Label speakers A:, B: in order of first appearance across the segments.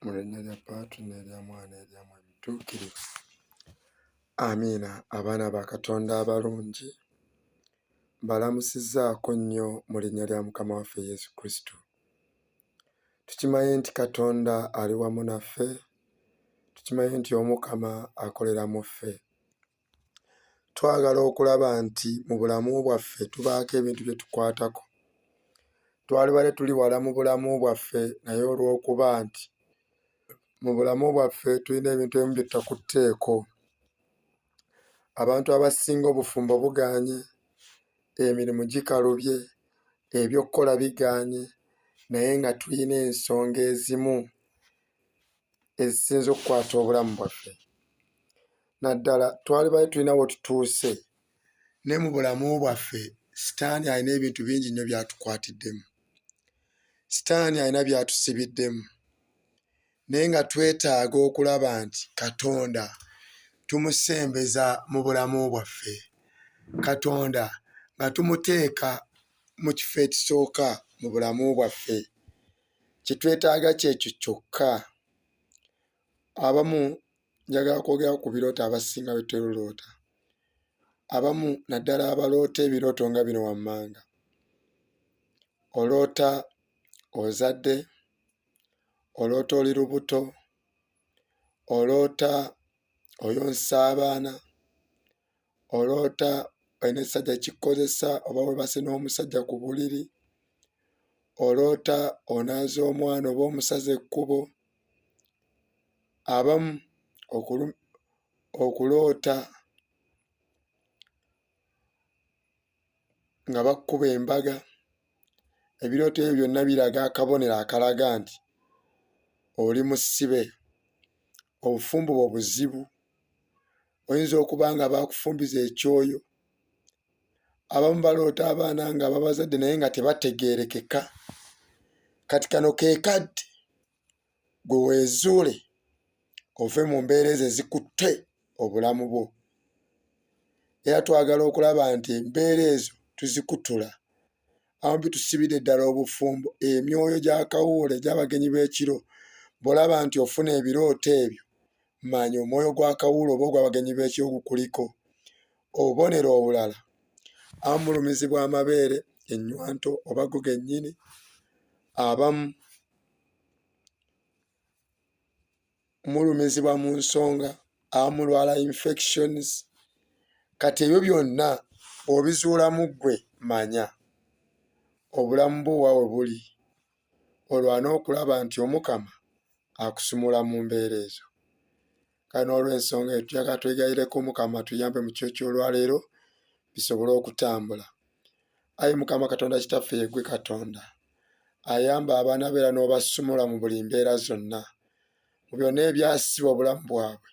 A: mu linnya lya Paatu n'erya Mwana erya mu ebituukirivu. Amiina. Abaana ba Katonda abalungi mbalamusizzaako nnyo mu linnya lya Mukama waffe Yesu Kristo. Tukimanyi nti Katonda ali wamu naffe, tukimanyi nti Omukama akolera mu ffe. twagala okulaba nti mu bulamu bwaffe tubaako ebintu bye tukwatako twalibadde tuli wala mu bulamu bwaffe naye olw'okuba nti mu bulamu bwaffe tulina ebintu ebimu bye tutakutteeko abantu abasinga obufumbo buganye emirimu gikalubye ebyokukola biganye naye nga tulina ensonga ezimu ezisinza okukwata obulamu bwaffe naddala twali bali tulina wetutuuse ne mu bulamu bwaffe sitaani alina ebintu bingi nnyo byatukwatiddemu sitaani alina byatusibiddemu naye nga twetaaga okulaba nti katonda tumusembeza mu bulamu bwaffe katonda nga tumuteeka mu kifo ekisooka mu bulamu bwaffe kye twetaaga kyekyo kyokka. Abamu njagala kwogera ku birooto abasinga bye tweruloota. Abamu naddala abaloota ebirooto nga bino wammanga. Oloota ozadde, oloota oli lubuto, oloota oyonsa abaana, oloota olina ekisajja kikukozesa oba webase n'omusajja ku buliri oloota onaaza omwana oba omusaza ekkubo abamu okuloota nga bakuba embaga ebirooto ebyo byonna biraga akabonero akalaga nti oli musibe obufumbo bwo buzibu oyinza okuba nga bakufumbiza ekyoyo abamu baloota abaana nga babazadde naye nga tebategerekeka kati kano kekadde gwe weezuule ove mu mbeera ezo ezikutte obulamu bwo era twagala okulaba nti embeera ezo tuzikutula amu bitusibidde ddala obufumbo emyoyo gya kawuula egy'abagenyi b'ekiro bw'olaba nti ofuna ebirooto ebyo manya omwoyo gwa kawuula oba ogw'abagenyi b'ekiro gukuliko obubonero obulala amulumizibwa amabeere ennywanto oba go gennyini abamu mulumizibwa mu nsonga amulwala infections kati ebyo byonna obizuulamu ggwe manya obulamu bwo wawe buli olwana okulaba nti omukama akusumula mu mbeera ezo kale n'olw'ensonga eyo tuyaga twegayireko mukama tuyambe mu kyo ky'olwaleero bisobole okutambula ayi mukama katonda kitaffe yegwe katonda ayamba abaana beera n'obasumula mu buli mbeera zonna mu byonna ebyasiba obulamu bwabwe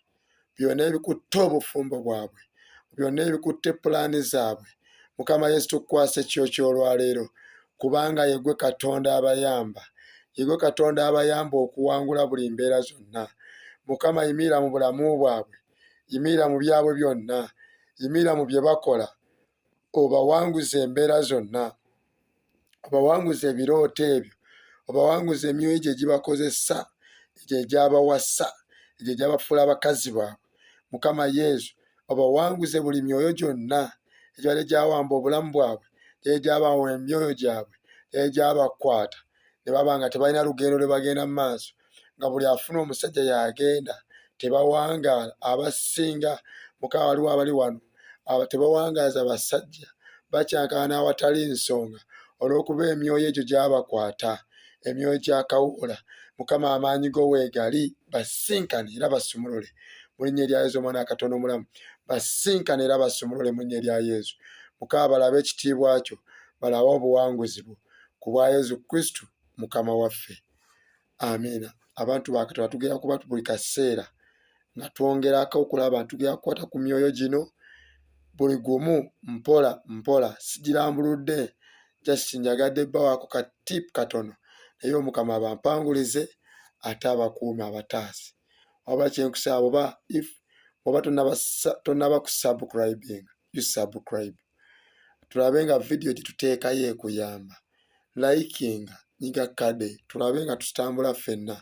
A: byonna ebikutte obufumbo bwabwe mu byonna ebikutte pulaani zaabwe mukama yesu tukukwasa ekyo kyolwaleero kubanga yegwe katonda abayamba yegwe katonda abayamba okuwangula buli mbeera zonna mukama yimiira mu bulamu bwabwe yimiira mu byabwe byonna yimiira mu bye bakola obawanguza embeera zonna obawanguze ebirooto ebyo obawanguze emyoyo gye gibakozesa egyo egyabawasa egyo egyabafuula abakazi baabwe mukama yesu obawanguze buli myoyo gyonna egyali gyawamba obulamu bwabwe gyali gyabawa emyoyo gyabwe gyali gyabakwata ne baba nga tebalina lugendo lwe bagenda mu maaso nga buli afuna omusajja yagenda tebawangaala abasinga mukama waliwo abali wano aba tebawangaaza basajja bakyankalana awatali nsonga olw'okuba emyoyo egyo gyabakwata emyoyo gyakawuula mukama amaanyi go weegali basinkane era basumulule mulinya erya yesu omwana akatono omulamu basinkane era basumulule mulinya erya yesu mukama balabe ekitiibwa kyo balabe obuwanguzi bwo ku bwa yesu kristu mukama waffe amiina abantu bakataba tugera kuba buli kaseera nga twongerako okulaba abantu tugera kukwata ku myoyo gino buli gumu mpola mpola sigirambuludde just njagadde bawaako ka tip katono naye omukama abampangulize ate abakuumi abataasi waba kyenkusa abo ba if oba tonaba kusubcribinga you subscribe tulabe nga vidiyo gye tuteekayo ekuyamba likinga nyiga kade tulabe nga tutambula ffenna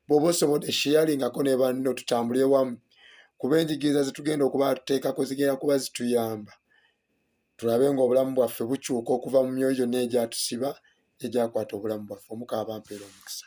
A: bwoba osobodde sheyalingako ne banno tutambule wamu kuba enjigiriza zetugenda okuba tuteekako zigenda kuba zituyamba tulabe nga obulamu bwaffe bukyuka okuva mu myoyo gyonna egyatusiba egyakwata obulamu bwaffe omukaabampeera omukisa